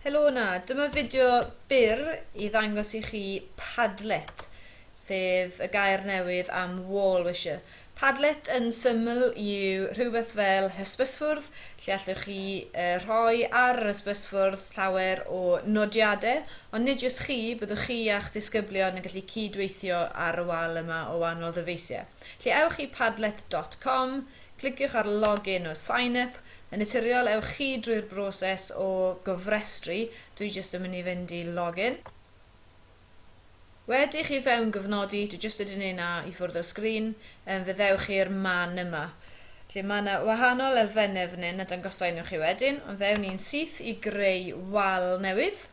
Helo yna, dyma fideo byr i ddangos i chi Padlet, sef y gair newydd am wall wisher. Padlet yn syml yw rhywbeth fel hysbysfwrdd lle allwch chi rhoi ar yr hysbysfwrdd llawer o nodiadau, ond nid jyst chi, byddwch chi a'ch disgyblion yn gallu cyd-weithio ar y wal yma o wahanol ddyfeisiau. Felly ewch i padlet dot com, Cliciwch ar Log In or Sign Up. Yn naturiol, ewch chi drwy'r broses o gofrestru, dwi jyst yn mynd i fynd i Log In. Wedi chi fewngyfnodi, dwi jyst wedi neud 'na i ffwrdd o'r sgrin, yym fe ddewch chi i'r man yma. Felly ma' 'na wahanol elfenne fan 'yn a dangosa i nhw chi wedyn, ond fe ewn ni'n syth i greu wal newydd.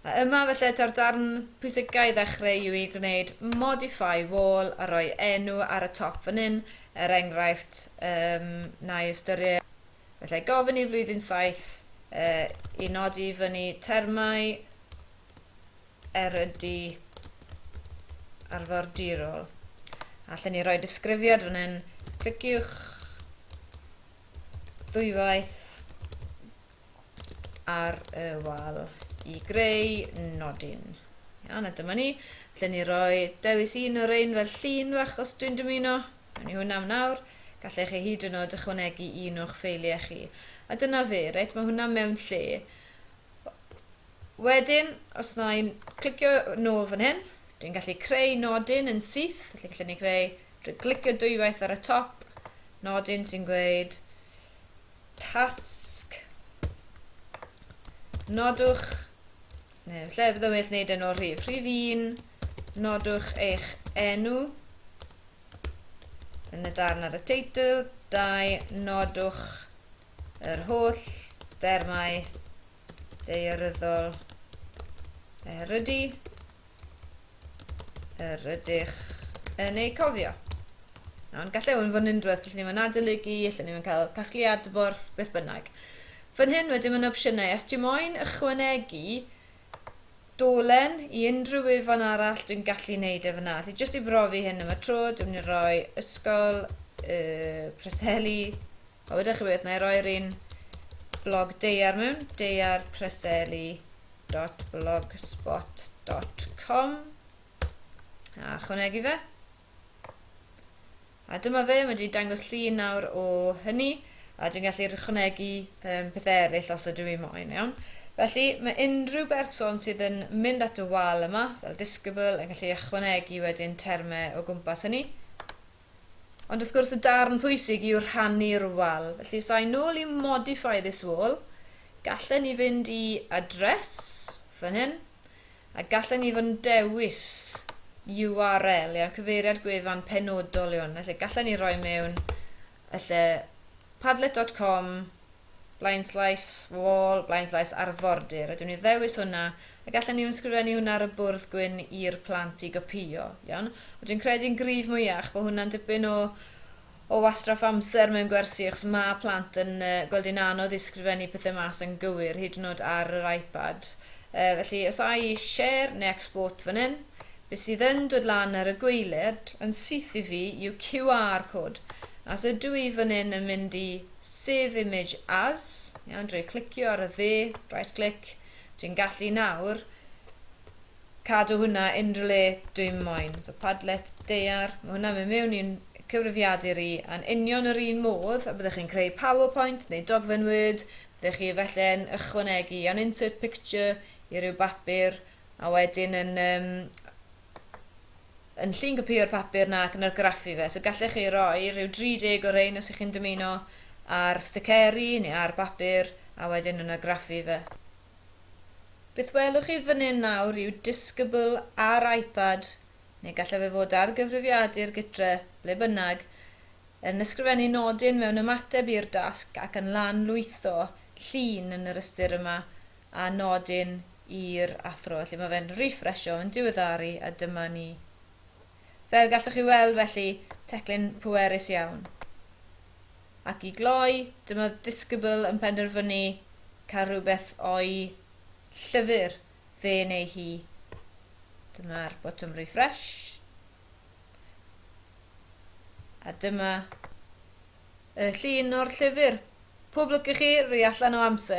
A yma felly ta'r darn pwysica i ddechreu yw i gwneud modify wall a rhoi enw ar y top fan hyn, er enghraifft um, na'i ystyried, felly gofyn i flwyddyn saith uh, i nodi i fyny termau erydu arfordirol. Allen ni roi disgrifiad fan hyn, cliciwch ddwywaith ar y wal i greu nodyn. Iawn, a dyma ni. Felly ni roi dewis un o'r ein fel llun fach os dwi'n dymuno. Mewn i hwnna am nawr. Gallech chi hyd yn oed ychwanegu un o'ch ffeiliau chi. A dyna fe, reit, mae hwnna mewn lle. Wedyn, os na i'n clicio nôl fan hyn, dwi'n gallu creu nodyn yn syth, felly gallen ni creu drwy glicio dwywaith ar y top, nodyn sy'n gweud tasg. Nodwch, neu lle bydd yn well wneud e'n o'r rhif. Rhif 1, nodwch eich enw yn y darn ar y teitl. 2, nodwch yr holl dermau ddaearyddol er ydy er ydych yn ei cofio. Nawr, gallai hwn fod yn unrhywbeth, gallwn ni fod yn adolygu, gallwn ni fod yn cael casglu adborth, beth bynnag. Fan hyn wedyn mae'n opsiynau, os ti'n moyn ychwanegu dolen i unrhyw ufan arall, dwi'n gallu wneud e fyna. Felly, jyst i brofi hyn am y tro, dwi'n mynd i roi ysgol y Preseli A weda chi beth, na i roi'r un blog deiar mewn, deiarpreseli.blogspot.com a chwnegu fe. A dyma fe, mae wedi dangos llun nawr o hynny, a dwi'n gallu rhychwanegu um, pethau eraill os ydw i moyn, iawn. Felly, mae unrhyw berson sydd yn mynd at y wal yma, fel disgybl, yn gallu ychwanegu wedyn termau o gwmpas hynny. Ond wrth gwrs y darn pwysig yw rhannu'r wal. Felly os ai nôl i modify this wall, gallen ni fynd i address, fan hyn, a gallen ni fod yn dewis URL, iawn, cyfeiriad gwefan penodol yw hwn. Felly gallen ni roi mewn y lle padlet.com blaenllais wall, blaenllais arfordir, a dwi myn' i ddewis hwnna, ac allen ni ysgrifennu hwnna ar y bwrdd gwyn i'r plant i gopïo, iawn? Ond dwi'n credu yn gryf mwyach bo' hwnna'n dipyn o o wastraff amser mewn gwersi achos ma' plant yn yy gweld hi'n anodd i sgrifennu pethe mas yn gywir, hyd yn o'd ar yr iPad. Yy felly os a i share ne' export fan 'yn, be' sydd yn dod lan ar y gwaelod yn syth i fi yw QR code, a os ydw i fan 'yn yn mynd i Save image as, iawn, drwy clicio ar y ddu, right click, dwi'n gallu nawr cadw hwnna unrhyw le dwi'n moyn. So Padlet daear, mae hwnna'n mynd mewn i'n cyfrifiadur i, a'n union yr un modd a byddech chi'n creu PowerPoint neu dogfen Word, byddech chi felle'n ychwanegu an insert picture i ryw bapur a wedyn yn um, yn llun copïo'r papur nac yn argraffu fe, so gallech chi roi rhyw 30 o rein os y'ch chi'n dymuno ar sticeri neu ar bapur a wedyn yn argraffu fe. Beth welwch chi fan hyn nawr yw disgybl ar iPad, neu gallai fe fod ar gyfrifiadur gytre, ble bynnag, yn ysgrifennu nodyn mewn ymateb i'r dasg ac yn lan-lwytho llun yn yr ystyr yma, a nodyn i'r athro, felly mae fe'n rîffresio, yn diweddaru, a dyma ni. Fel gallwch chi weld felly, teclyn pwerus iawn. Ac i gloi, dyma Discable yn penderfynu cael rhywbeth o'i llyfr fe neu hi. Dyma'r botwm refresh. A dyma y llun o'r llyfr. Pob lwc i chi, rwy allan o amser.